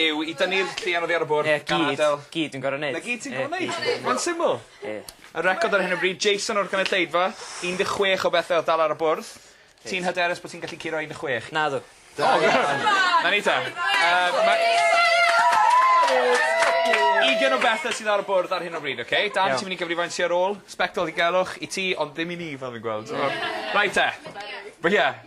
yw i dynnu'r llian oddi ar y bwrdd. 'Na gyd. Gan adel. Gyd dwi'n gor'o' neud. 'Na gyd ti'n gor'o' neud. Ie. Mae'n syml. Ie. Y record ar hyn o bryd Jason o'r cynulleidfa un de' chwech o bethe odd dal ar y bwrdd. Ti'n hyderus bo' ti'n gallu curo un de' chwech? Nadw. Da iawn. 'Na ni ta. Yym ma'... Ugen o bethe sydd ar y bwrdd ar hyn o bryd oce? Dan ti myn' i gyfrifau'n sy ar ôl? Sbectol ddigelwch i ti ond ddim i ni fel fi'n gweld t'mo'? Reit te. Ie. Ie.